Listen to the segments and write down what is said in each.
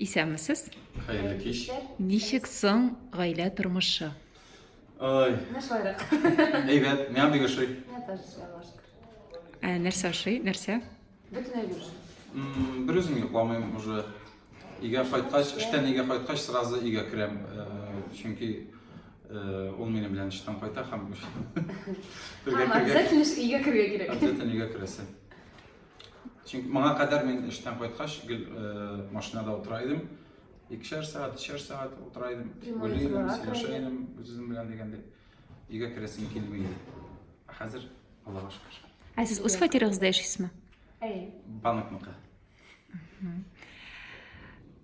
Исәнмесез. Хәерле кич. Ничек соң гаилә тормышы? Ой. Начаррак. Әйбәт, миңа бик ошый. Я тоже шалаш. Ә, нәрсә ашый? Нәрсә? Бөтен әйбер. М, Бер үзем йокламыйм уже. Өйгә кайткач, эштән өйгә кайткач, сразу өйгә керәм. Э, Чөнки э, ул минем белән эштән кайта һәм Һәм бергә кергән. обязательно өйгә керергә кирәк. Обязательно өйгә керәсе. Чөнки моңа кадәр мин эштән кайткач, гел машинада утыра идем. Икешәр сәгать, өчәр сәгать утыра идем. Уйлый идем, сөйләшә идем үзем белән дигәндәй. Өйгә керәсем килми иде. Ә хәзер Аллага шөкер. Ә сез үз фатирыгызда яшисезме? Әй. Банкныкы.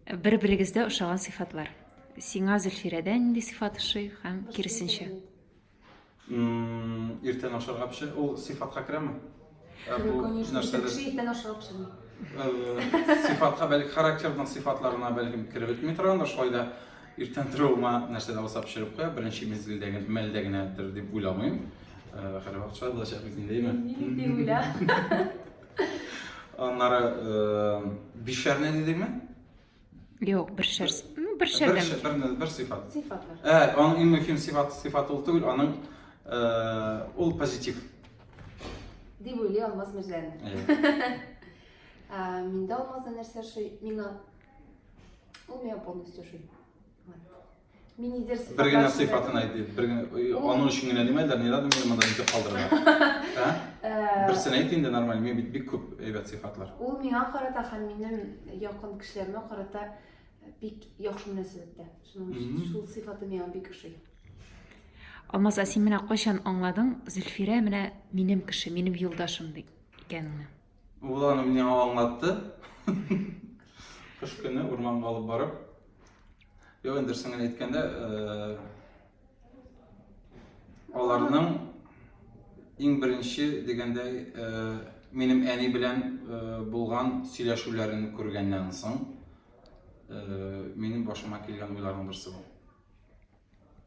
Бер-берегездә ошаган сыйфатлар. Сиңа Зөлфирәдә нинди сыйфат ошый һәм киресенчә? Иртән ашарга пешер. Ул сифатка керәме? Ә бу Конечно, нәрсәдә? кеше иртән ашарга пешерми. Э, сифатка бәлки характерның сифатларына бәлкем кереп бетми торгандыр, шулай да иртән торуыма нәрсә дә булса пешереп куя, беренче мизгелдә генә, мәлдә генәдер дип уйламыйм. Э, Хәле вакытша булачак бит инде, әйме? Мин дип уйла. Аннары э, бишәрне дидеңме? Юк, бер шәр. Ну, бер шәр. Бер шәр, бер, бер сыйфат. Сыйфат. Ә, аның иң мөһим сыйфат, сыйфат ул түгел, аның э, ул позитив. Дип уйлый Алмаз Мирзәлин. Ә, миндә Алмазда нәрсә шуй? Мина. Ул миңа полностью шуй. Мин нидер сыйфатлар Бер генә сыйфатын әйт, бер генә. Аның өчен генә нимәдер, ни надо мине монда итеп калдырырга. Ә? Э, Берсен әйт инде нормально, мин бит бик күп әйбәт сыйфатлар. Ул миңа карата һәм минем якын кешеләремә карата бик яхшы мөнәсәбәттә. Шуның өчен шул сыйфаты миңа бик ошый. Алмаз, син менә кайчан аңладың, Зөлфирә менә минем кеше, минем юлдашым ди икәнеңне? Ул аны миңа аңлатты. Кыш көне урманга алып барып, Юк, инде дөресен генә әйткәндә, аларның иң беренче дигәндәй, минем әни белән булган сөйләшүләрен күргәннән соң, минем башыма килгән уйларның берсе бу.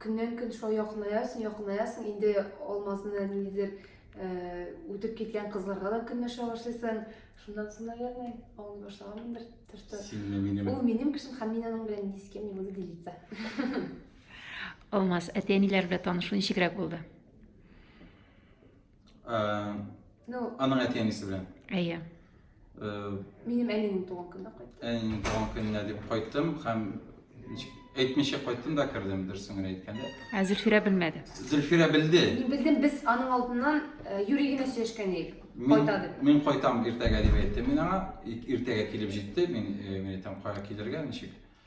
Көннән-көн шулай якынаясың, якынаясың, инде Алмазны ниндидер үтеп киткән кызларга да көнләшә башлыйсың. Шуннан соң, наверное, аңлый башлаганмындыр. То, что... Синме, минем? Ул минем кешем, һәм мин аның белән ни с кем не буду делиться. Алмаз, әти-әниләр белән танышу ничегрәк булды? Ну, аның әти әнисе белән. Әйе. Минем әнием туган көнне кайттым. Әнием туган көнне дип кайттым һәм әйтмичә кайттым да кердем, дөресен генә әйткәндә. Ә Зөлфирә белмәде. Зөлфирә белде. Мин белдем, без аның алдыннан юри генә сөйләшкән идек. Кайта дип. Мин кайтам иртәгә дип әйттем мин аңа. Иртәгә килеп җитте. Мин мин әйтәм, кая килергә, ничек?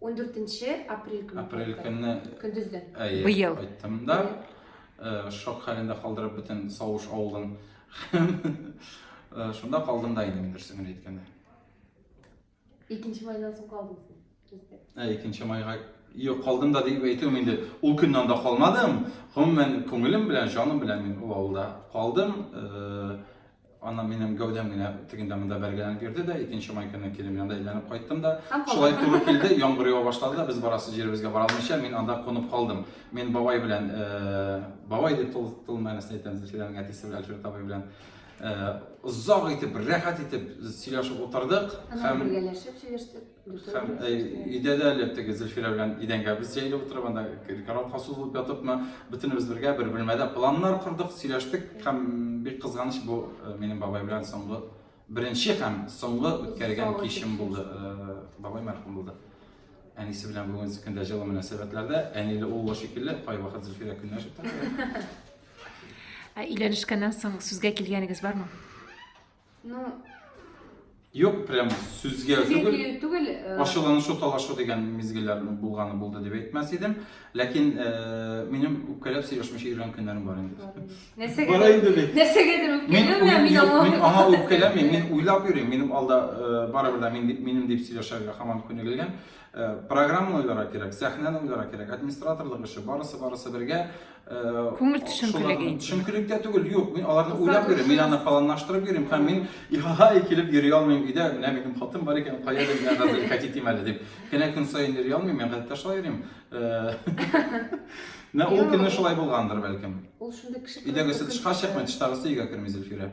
14 апрель көне. Апрель көне. Көндездән. Әйе. Быел. Айттым да. Э, шок хәлендә калдырып бөтен Савыш авылын. Э, шунда калдым да инде мин дөресен генә әйткәндә. Икенче майдан соң калдым сездә. Ә икенче майга Юк, калдым да дип әйтүем инде. Ул көннән дә калмадым. Гомумән, күңелем белән, җаным белән мин ул авылда калдым. Э, Аннан минем гәүдәм генә тегендә монда бәргәләнеп йөрде дә, икенче май көне килем янында әйләнеп кайттым да. Шулай туры килде, яңгыр ява башлады да, без барасы җиребезгә бара алмыйча, мин анда кунып калдым. Мин бабай белән, э, бабай дип тол, тол мәгънәсендә әйтәм, Зөлфиләнең әтисе белән Альфред абый белән э, озак итеп, рәхәт итеп сөйләшеп утырдык. Һәм бергәләшеп сөйләштек. Һәм э, өйдә дә әле теге Зөлфирә белән идәнгә без җәелеп утырып, анда караватка сузылып ятыпмы, бөтенебез бергә бер бүлмәдә планнар кордык, сөйләштек һәм бик кызганыч бу э, минем бабай белән соңгы беренче һәм соңгы үткәргән кичем булды. Э, бабай мәрхүм булды. Әнисе белән бүгенге көндә җылы мөнәсәбәтләрдә, әниле уллы шикелле, кайвакыт Зөлфирә көнләшеп тора. Ә өйләнешкәннән соң сүзгә килгәнегез бармы? Ну, Юк, прям сүзгә түгел. түгел. Э, Ачуланышу, талашу дигән мизгелләр булганы булды дип әйтмәс идем. Ләкин э, минем үпкәләп сөйләшмичә йөргән көннәрем бар инде. Нәрсәгә? Бар инде бит. Нәрсәгәдер үпкәләү мин мин аңа үпкәләмим, мин уйлап йөрим. Минем алда э, барыбер дә мин дип минем дип сөйләшергә һаман күнегелгән. Программа уйларга кирәк, сәхнәне уйларга кирәк, администраторлык эше, барысы барысы бергә. Күңел төшенкелеге инде. Төшенкелек тә түгел, юк, мин аларны уйлап йөрим, мин аны планлаштырып йөрим һәм мин ихай килеп йөри алмыйм өйдә, менә минем хатын бар икән, кая дип миңа хәзер ихать итим әле дип. Кенә көн саен йөри алмыйм, мин гадәттә шулай йөрим. Менә ул көнне шулай булгандыр, бәлкем. Ул шундый кеше. Өйдәгесе тышка чыкмый, тыштагысы өйгә керми Зөлфирә.